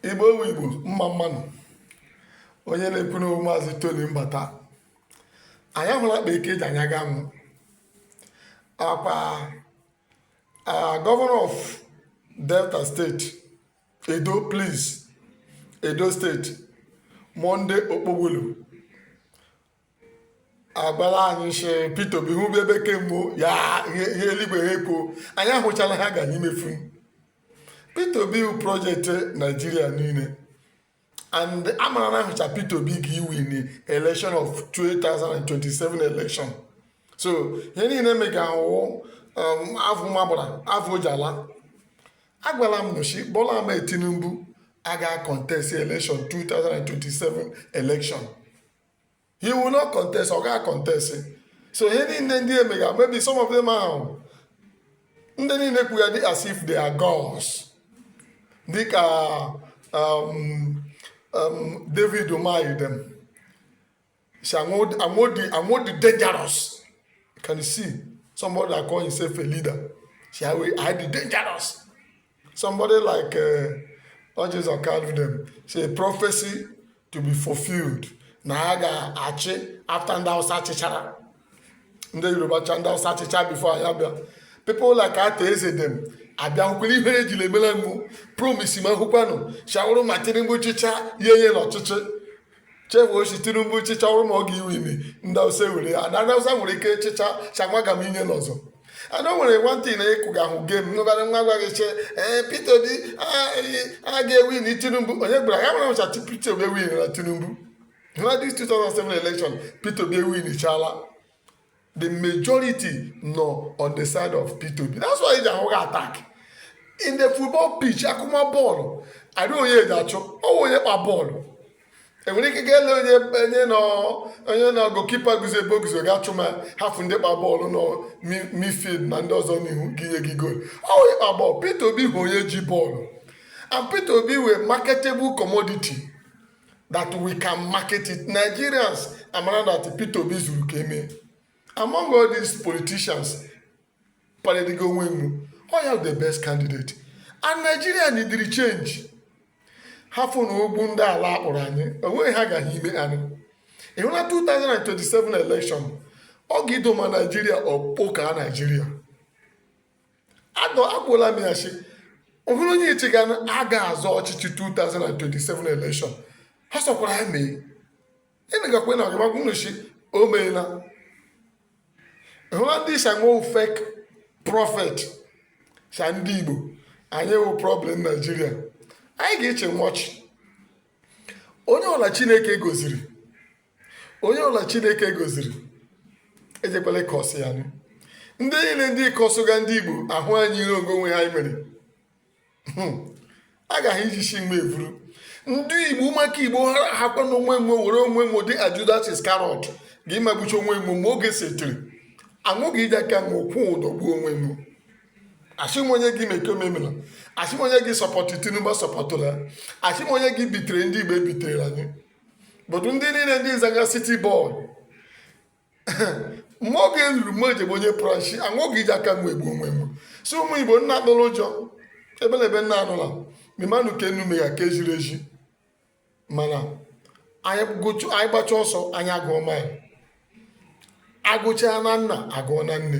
igbo ọ wụ igbo mma mma nụ onye na-ekwu n'ọ wụ maazị toni mbata anyị ahụla akpa eke ji anya ga-amụ akwa governor of delta state edo please edo state monday okpebholo agwala anyị si Peter Obi hụ bụ ebe kemgbe ya ihe ihe eluigwe ha ekwo anyị ahụchala ha ga anyị mefu Peter Obi bụ project Nigeria niile and amara na ahụcha Peter Obi ga iwin election of 2027 election so ihe niile mega ahụ um, afọ magbara afọ jala agwala m ụnụ shi Bola Ahmed Tinubu aga contest election 2027 election he will not contest ọ gaghị contest so ihe niile ndị emega maybe some of them ahụ ndị niile kwugadị as if they are gods dịka um, um, David Umahi dem si na ọ dị na ọ dị dangerous can you see somebody that call himself a leader si I dey dangerous Somebody like uh, Orji Uzor Kalu dem say prophecy to be fulfilled na ya ga-achị after ndị Hausa chịchara ndị Yoruba achịa ndị Hausa chịcha before ya bịa people like Arthur Eze dem abịa hụkwara ihere ejila emela nwo promise ma hụkwanụ shi ọ wụrụ ma Tinubu chịcha ya enye nwo ọchịchị chefuo shi tinubu chịcha ọ wụrụ ma ọ ga-iwini ndị Hausa ewere ya na ndị Hausa nwere ike chịcha shi ha agaghị inye n'ọzọ and o nwere one thing na ịkụ ga ahụ game nụbara nwa gwa gị shi Peter Obi a ga-ewin tinubu onye gbara ya nwere ncha Peter Obi ewinna tinubu na this 2007 election Peter Obi ewinchala the majority nọ on the side of Peter Obi that's why i ji ahụga attack in the football pitch akụma bọọlụ adị onye eji achụ ọ wụ onye kpa bọọlụ enwere ike ga-ele onye onye nọ onye nọ goalkeeper guzo ebe o guzo ga-achụ ma hafụ ndị kpa bọọlụ nọ midfield na ndị ọzọ n'ihu ga-enye gị goolu ọ wụ onye kpa bọọlụ Peter Obi bụ onye ji bọọlụ and Peter Obi wụ a marketable commodity that we can market it nigerians amara that peter obi zuru ka eme among all these politicians paradiga onwe nwo ọ wụ ya the best candidate and nigeria neediri change hafụ na ogbu ndị ala akpọrọ anyị o nweghị ihe ha ga ime anyị ịhụ na 2027 election ọ ga-idoma naijiria ọ kpọkaa naijiria anọ agwụla m ya sị ọ hụrụ onye iche ga aga azọ ọchịchị 2027 election ha sọkwara ya mee ịnagakwa na ọgụmagwụ nnochi o meela ịhụla ndị isi ọ wụ fake prophet sa ndị igbo anyị wụ problem nigeria anyị ga-eche nwọchị onye ọla chineke goziri onye ọla chineke goziri ejekwala ịkọsị ya nụ ndị niile ndị kọsụga ndị igbo ahụ anyị ire onwe onwe ha anyị mere Hmm. agaghị iji isi mgbe evuru ndị igbo maka igbo ha hakwa na onwe mgbe were onwe mgbe dị judas iscariot ga ịmagbuchi onwe mgbe mgbe oge setiri aṅụghị iji aka ma kwụọ ụdọ gbuo onwe mgbe asị m onye gị meke omemela asị m onye gị support tinubu supportụla asị m onye gị betray ndị igbo betray anyị but ndị niile ndị nzaga city boy mgbe oge ruru mgbe ejebe onye prashi anwụghị iji aka mgbe egbu onwe m so ụmụ igbo nna atụla ụjọ ebe na ebe nna anụla memanụ ke ụnụ mega ka eziri ezi mana anyị gbachaa ọsọ anyị agụọ mile agụchaa na nna agụọ na nne